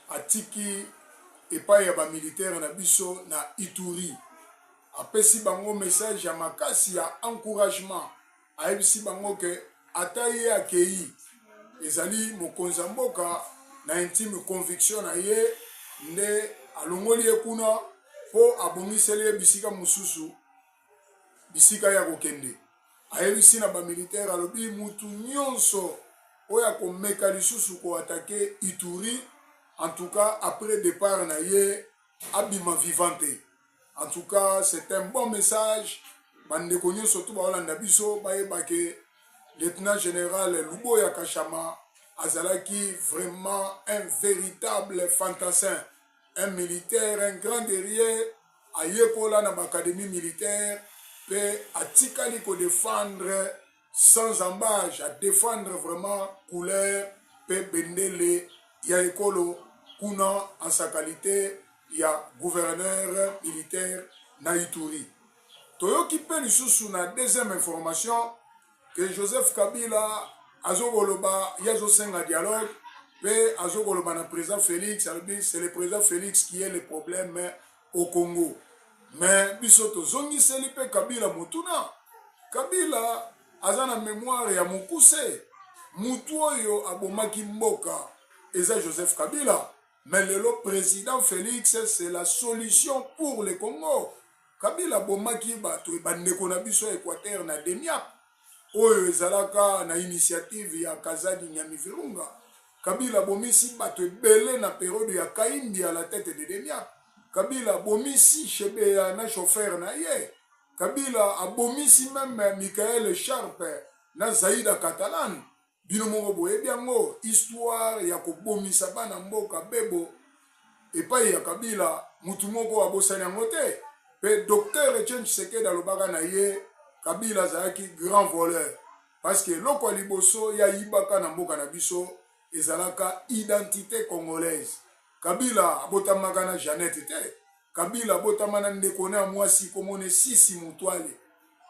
atiki epayi ya ba militaires na biso na Ituri. Apesi bango message ya makasi ya encouragement, ayebisi bango ke ata ye akeyi, ezali mokonzi ya mboka na intime conviction na ye nde alongoli ye kuna mpo abongiseli ye bisika mosusu. bisika ya kokende ayebisi na ba militaire alobi mutu nyonso oyo akomeka lisusu ko atake ituri en tout cas après départ na ye abima vivant te en tout cas c'est un bon message bandeko nyonso to baolanda biso bayeba ke lieutenant général luboya kashama azalaki vraiment un véritable fantassin un militaire un grand guerrier Ayekola na b'academie militaire pe atikali ko defendre sans ambage, a defendre vraiment couleur pe bendele ya ekolo kuna en sa qualite ya gouverneur militaire na Ituri. Toyoki pe lisusu na deuxième information, que Joseph Kabila azokoloba ye azosenga dialogue mpe azokoloba na président Félix alobi c'est le président Félix qui est le problème au Congo mais biso tozongiseli mpe Kabila motuna Kabila aza na mémoire ya mokuse mutu oyo abomaki mboka eza Joseph Kabila Mais lelo president Felix c'est la solution pour le Congo. Kabila abomaki bato bandeko na biso ya Equateur na Demiap oyo ezalaka na initiative ya Kazadi Nyami Virunga. Kabila abomisi bato ebele na periode ya Kaimbi à la tête de Demiap. Kabila abomisi Shebeya na chauffeur na ye. Kabila abomisi meme Michael Sharpe na Zaida Catalan. Bino moko boyebi yango histoire ya kobomisa bana mboka bebo epayi ya kabila mutu moko abosani yango te pe docteur Etienne Tshisekedi alobaka na ye kabila azalaki grand voleur parce que eloko ya liboso ye ayibaka na mboka na biso ezalaka identite congolaise kabila abotamaka na Jeannette te Kabila abotama na ndeko na ya mwasi kombo ne Sisi Mutwale.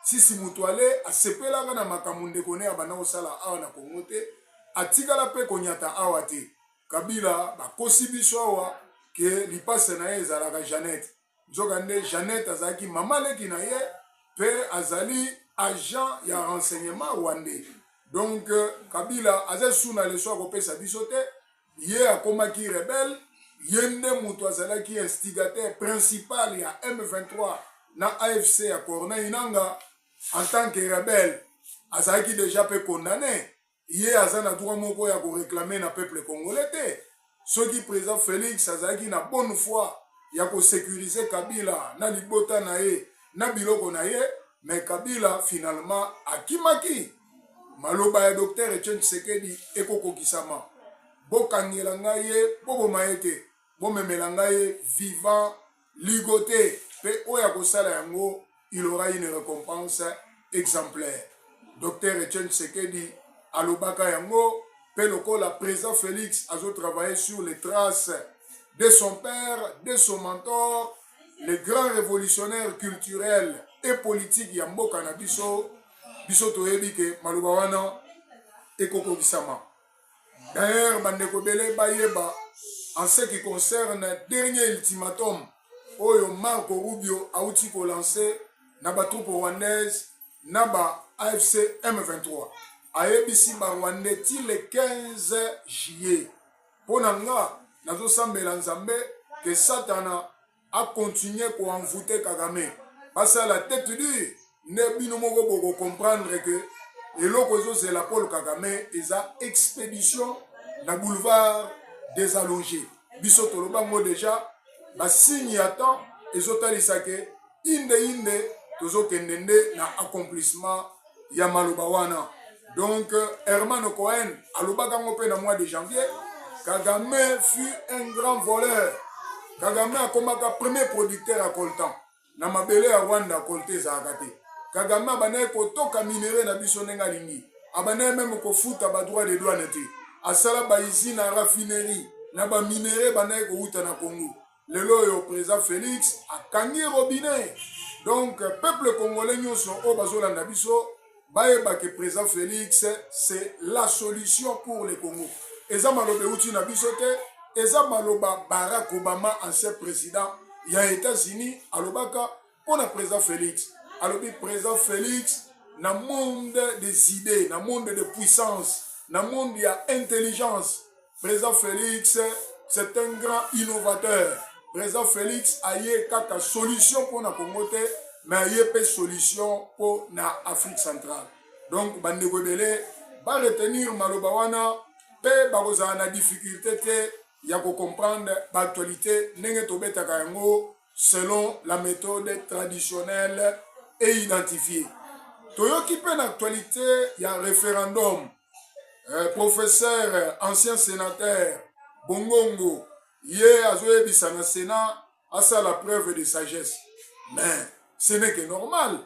Sisi Mutwale asepelaka na makambo ndeko ne abanda kosala awa na Congo te, atikala mpe konyata awa te. Kabila bakosi biso awa ke lipasa na ye ezalaka Jeannette. Nzokande Jeannette azalaki mama leki na ye mpe azali agent ya renseignement rwandais. Donc Kabila aza suna leso akopesa biso te, ye akomaki rebelle ye nde mutu azalaki instigateur principal ya M23 na AFC ya Corneille Nanga en tant que rebelle azalaki deja pe condamne ye aza na droit moko ya ko reclamer na peuple congolais te soki président Felix azalaki na bonne foi ya ko sécuriser Kabila na libota na ye na biloko na ye mais Kabila finalement akimaki Maloba ya Docteur Etienne Tshisekedi ekokokisama. Bokangela ngai ye, boboma ye te, bomemela ngai ye vivant, ligote, mpe oyo akosala yango il aura une recompense exemplaire. Docteur Etienne Tshisekedi alobaka yango mpe lokola président Félix azo travailler sur les traces de son père, de son mentor, le grand révolutionnaire culturel et politique ya mboka na biso biso toyebi ke maloba wana ekokokisama d'ailleurs bandeko ebele bayeba en ce qui concerne dernier ultimatum oyo marco rubio auti kolanse na batroupe rwandaise na ba afc m23 ayebisi barwandais ti le 15 juillet mpo na nga nazosambela nzambe ke satana a continuer ko envoute kagame basala tete dure nde bino moko boko comprendre que eloko ezozela paul kagame eza expédition na boulevard des allongés biso toloba yango deja basigne ya temps ezotalisa ke inde inde tozokende nde na accomplissement ya maloba wana donc hermano cohen alobaka yango mpe na mois de janvier kagame fut un grand voleur kagame akomaka premier producteur ya coltan na mabele ya rwanda colte ezalaka te kagame abandaki kotoka minere na biso ndenge alingi abandaki meme kofuta badroit de douane te asala baizine ya raffinerie na baminere ebandaki kowuta na congo lelo oyo président félix akangi robinet donc peuple congolais nyonso oyo bazolanda biso bayeba ke président félix c'est la solution pour le congo eza maloba euti na biso te eza maloba barack obama ancien président ya états-unis alobaka mpo na président félix alobi président félix na monde des idées na monde de puissance na monde ya intelligence Président Félix, c'est un grand innovateur. Président Félix aye kaka solution pour na Congo te, mais aye pe solution pour na Afrique centrale. Donc bandeko ebele ba retenir maloba wana pe bakozala na difficulté te ya ko comprendre ba actualité ndenge tobetaka yango selon la méthode traditionnelle et identifiée. Toyoki pe na actualité ya référendum eh, professeur ancien sénateur bongongo ye azoyebisa na sénat asala preuve de sagesse mais ce n'est que normal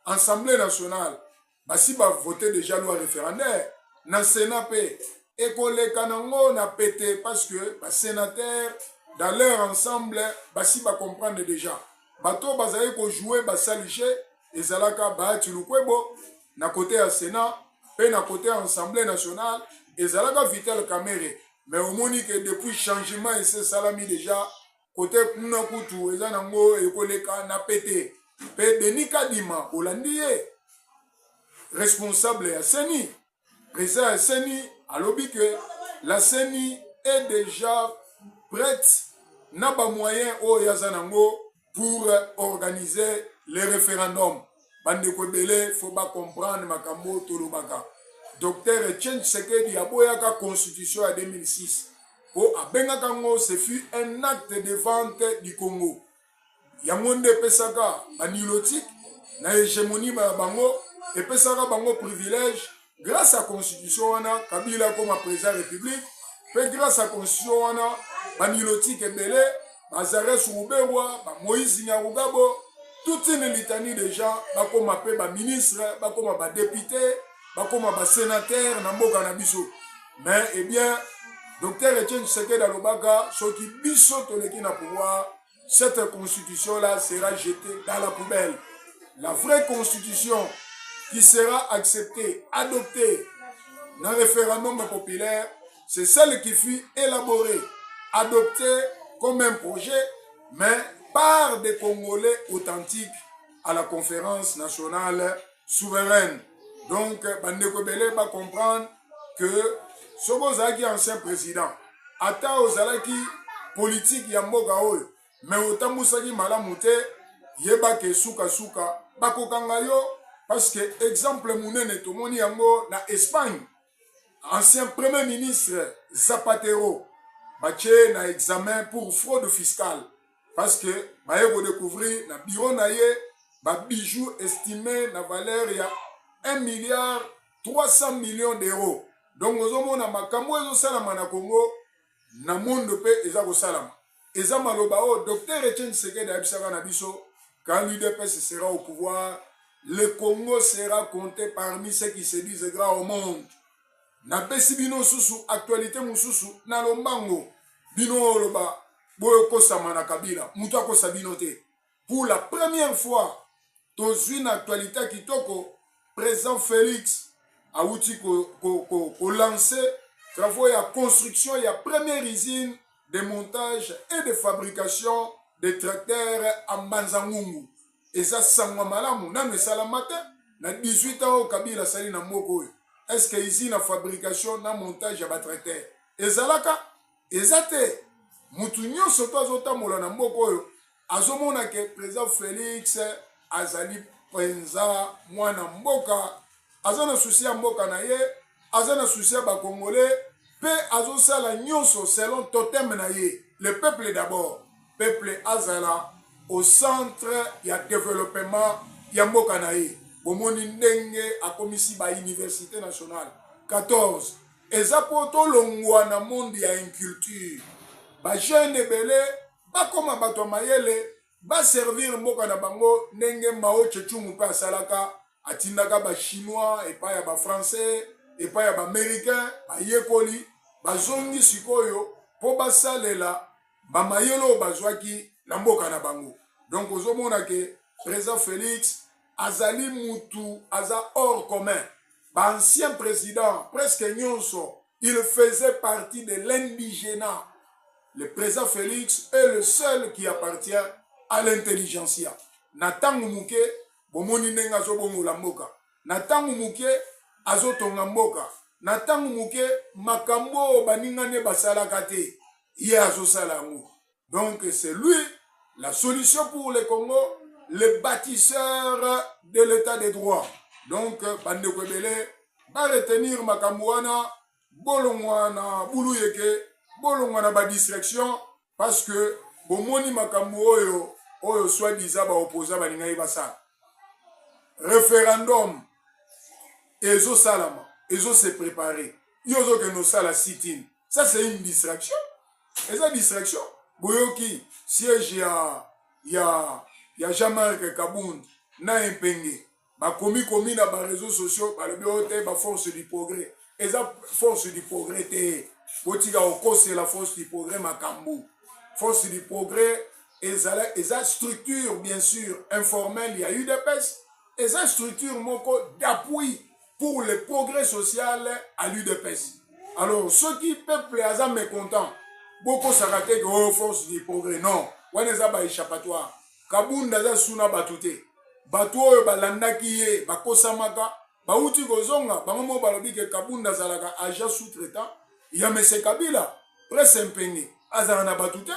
assemblée nationale basi bavote déjà loi référendaire na sénat mpe ekoleka nango na pete parce que basénateur dans leur ensemble basi bacomprendre déjà Bato oyo bazalaki ko jouer ba sale jeu ezalaka Bahati Lukwebo na kote ya Senat mpe na kote ya Assemblee nationale ezalaka Vital Kamerhe mais omoni ke depuis changement esi esalami deja kote kuna kutu eza nango ekoleka na pete mpe Denis Kadima olandi ye responsable ya CENI Président ya CENI alobi que la CENI est déjà prête na ba moyens oyo aza nango pour organiser le référendum. Bandeko ebele faut ba comprendre makambo oyo tolobaka. Docteur Etienne Tshisekedi aboyaka constitution ya 2006 mpo abengaka yango ce fut un acte de vente du Congo. yango nde epesaka banilotique na hegemonie ya bango epesaka bango privilège grâce ya constitution wana kabila akoma président ya république mpe grâce ya constitution wana banilotique ebele bazares ruberwa bamoïse nyarugabo toute une litanie de gens bakoma mpe baministre bakoma badepute bakoma ba senateur na mboka na biso mais eh bien docteur Etienne Tshisekedi alobaka soki biso toleki na pouvoir cette constitution là sera jetée dans la poubelle la vraie constitution qui sera acceptée adoptée na référendum populaire c'est celle qui fut élaborée adoptée comme un projet mais par des Congolais authentiques à la conférence nationale souveraine donc bandeko ebele ba comprendre que soki ozalaki ancien président ata ozalaki politike ya mboka oyo me otambusaki malamu te yeba ke sukasuka bakokanga yo parce que exemple monene tomoni yango na espagne ancien premier ministre zapatero batie na examen pour fraude fiscale parce que baye ko découvrir na bureau na ye ba bijoux estimé na valeur ya 1 milliard 300 millions d'euros donc ozomona makambo oyo ezosalama na congo na monde mpe eza kosalama eza maloba oyo docteur etienne tshisekedi ayebisaka na biso quand l'udps sera au pouvoir le congo sera compté parmi ceux qui se disent grand au monde napesi bino susu actualite mosusu na lombango bino oloba boyokosama na kabila moto akosa bino te pour la première fois tozwi na actualite ya kitoko président félix awuti kolanse ko, ko, ko travaux ya construction ya première usine de montage et de fabrication de tracteurs à mbanzangungu eza sango ya malamu nanu esalama te na 18 ans oyo kabila asali na mboka oyo est ce que usine ya fabrication na montage ya batraiter ezalaka eza te motu nyonso to azotambola na mboka oyo azomona ke président félix azali mpenza mwana mboka aza na susi ya mboka na ye aza na susi ya bakongole mpe azosala nyonso selon totem na ye le peuple d'abord peuple azala au centre ya developpement ya mboka na ye bomoni ndenge akomisi ba université nationale 14 eza mpo tolongwa na monde ya inculture bajeune ebele bakoma bato ya mayele ba servir mboka na bango ndenge Mao Tse Tung pe asalaka atindaka ba chinois epai ya ba français epai ya ba americain bayekoli bazongi sikoyo mpo basalela bamayele oyo bazwaki na mboka na bango donc ozomona ke président Felix azali mutu aza hors commun ba ancien president presque nyonso il faisait partie de l'indigena le président félix est le seul qui appartient à l'intelligentsia na ntango moke bomoni ndenge azobongola mboka na ntango moke azotonga mboka na ntango moke makambo oyo baninga nde basalaka te ye azosala yango Donc c'est lui la solution pour le Congo, le bâtisseur de l'état de droit. Donc bandeko ebele ba retenir makambo wana bolongwa na bulu yeke bolongwa na badistraction parce que bomoni makambo oyo oyo soit disant baopposa balingaki basala référendum ezosalama ezose prépare yo ozokende osala sitine ça c'est une distraction eza distraction boyoki siège ya ya ya jean marc kabund na empenge bakomi komi na bareseau sociaux balobi oyo te baforce du progrès eza force du progrès te botika kokosela force du progrès makambo force du progrès ezala eza structure bien sûr informelle ya udps eza structure moko d'appui pour le progrès social à l'udps alors soki peuple aza mécontent bokosaka te ke oyo oh, force du progrès non wana eza ba échappatoire kabunda aza su na bato te bato oyo balandaki ye bakosamaka bauti kozonga bango moko balobi ke kabunda azalaka agent sous traitant ya mese kabila prese mpenge azala na bato te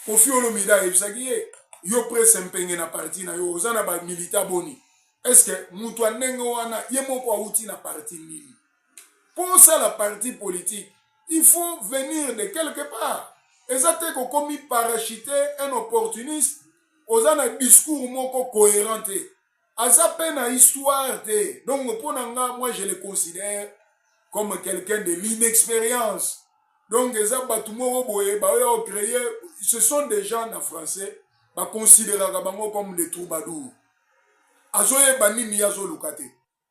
kofi olomide ayebisaki ye yo prese mpenge na parti na yo oza na bamilita boni eske moto ya ndenge wana ye moko awuti na parti nini mpo osala parti politike il faut venir de quelque part eza te kokomi parachute un opportuniste oza na discours moko cohérent te aza pe na histoire te donc mpo na nga moi je le considère comme quelqu'un de l'inexpérience donc eza bato moko boye baoya ocreye ce sont des gens na français baconsideraka bango comme des troubadour azoyeba nini ye azoluka te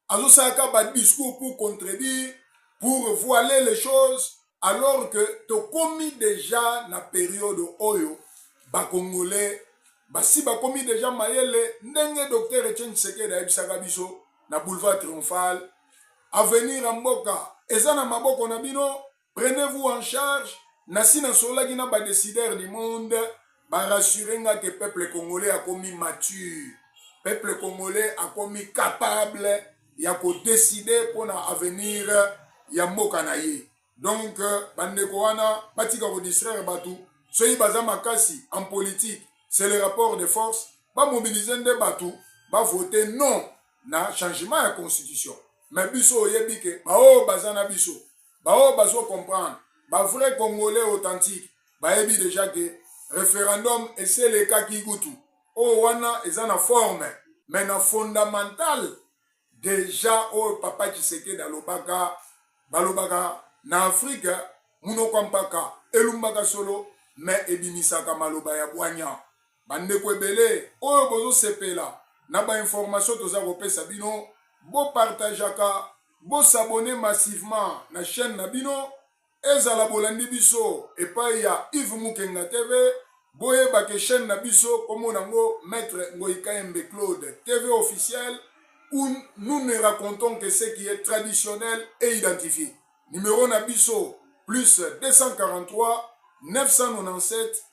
azosala ka ba discours pour contredire pour voiler les choses alors que tokomi deja na periode oyo bakongolais basi bakomi deja mayele ndenge docteur etienne tshisekedi ayebisaka biso na boulevard triomphal avenir ya mboka eza na maboko na bino prenez vous en charge nasi nasololaki na ba décideur du monde barassure nga ke peuple congolais akomi mature peuple congolais akomi capable ya kodeside mpo na avenir ya mboka na ye donc euh, bandeko wana batika kodistraire bato soki baza makasi en politique c'est le rapport de force bamobilize nde bato bavote non na changement ya constitution me biso oyebi ke baoyo baza na biso baoyo bazo comprendre ba vrai congolais authentique bayebi deja ke referendum esi elekaki kutu oyo wana eza na forme mais na fondamental deja oyo papa tshisekedi alobaka balobaka na afrike munoko mpaka elumbaka solo mais ebimisaka maloba ya bwanya Bandeko ebele oyo bozo sepela na ba information toza kopesa bino bo partagaka bo s'abonner massivement na chaine na bino ezala bolandi biso epayi ya Yves Mukenga TV boyeba ke chaine na biso kombo nango maitre Ngoyi Kayembe Claude TV officiel ou nous ne racontons que ce qui est traditionnel et identifié numero na biso plus 243 997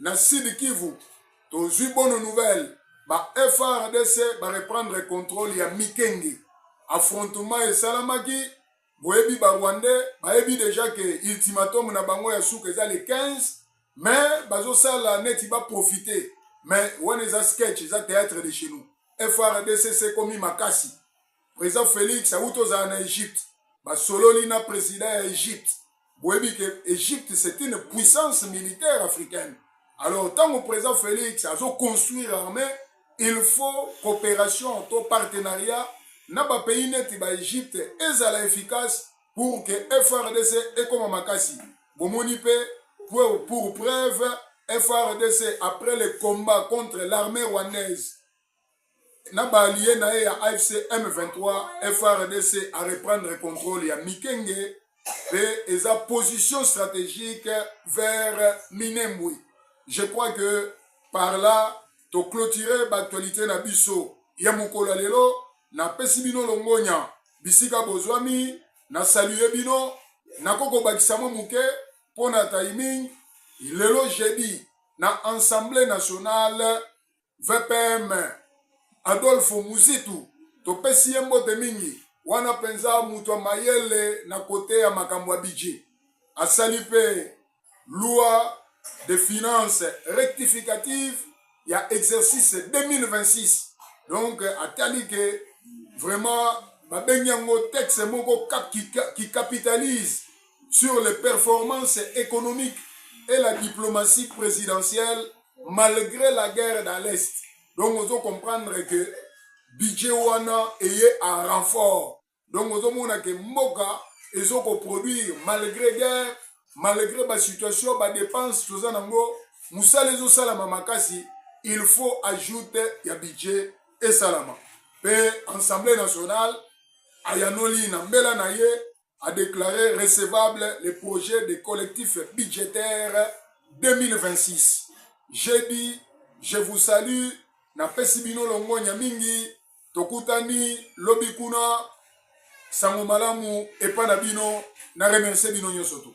na Sud Kivu tozwi bonne nouvelle ba FRDC ba reprendre contrôle ya Mikenge. Affrontement esalamaki, boyebi ba Rwandais bayebi deja ke ultimatum na bango ya suka eza le 15 mais bazosala neti ba profiter mais wana eza sketch eza théâtre de chez nous. FRDC sekomi makasi President Felix awuti ozala na Egypte, basololi na president ya Egypte. Boyebi ke Egypte c'est une puissance militaire africaine. Alors ntango president Felix azo construire armée, il faut coopération to partenariat na ba pays neti ba Egypte ezala efficace pour que FRDC ekoma makasi. Bomoni pe pour, pour preuve FRDC après le combat contre l'armée rwandaise na ba alliés na ye ya AFC M23 FRDC a reprendre contrôle ya Mikenge pe eza position stratégique vers Minembwe. Je crois que par là to clôturer ba actualités na biso ya mokolo lelo na pesi bino longonya bisika bozwami na saluer bino nako kobakisa mwa moke mpo na timing lelo jeudi na Assemblée nationale VPM Adolphe Muzitu, topesi ye mbote mingi. Wana mpenza moto ya mayele na cote ya makambo ya budget. Asali mpe loi de finance rectificative ya exercice 2026. Donc atali que vraiment babengi yango texte moko qui capitalise sur les performances economiques et la diplomatie presidentielle malgre la guerre dans l'est donc ozo comprendre que budget wana eye a renfort donc ozomona ke mboka ezokoproduire malgre guerre malgre basituation badepense toza nango mosala ezosalama makasi il faut ajoute ya budget esalama mpe assemblée nationale ayanoli na mbela na ye a declare recevable le projet de collectif budgetaire 2026. J'ai dit, je vous salue, napesi bino longonya mingi, tokutani lobi kuna sango malamu epa na bino, na remercie bino nyonso tu.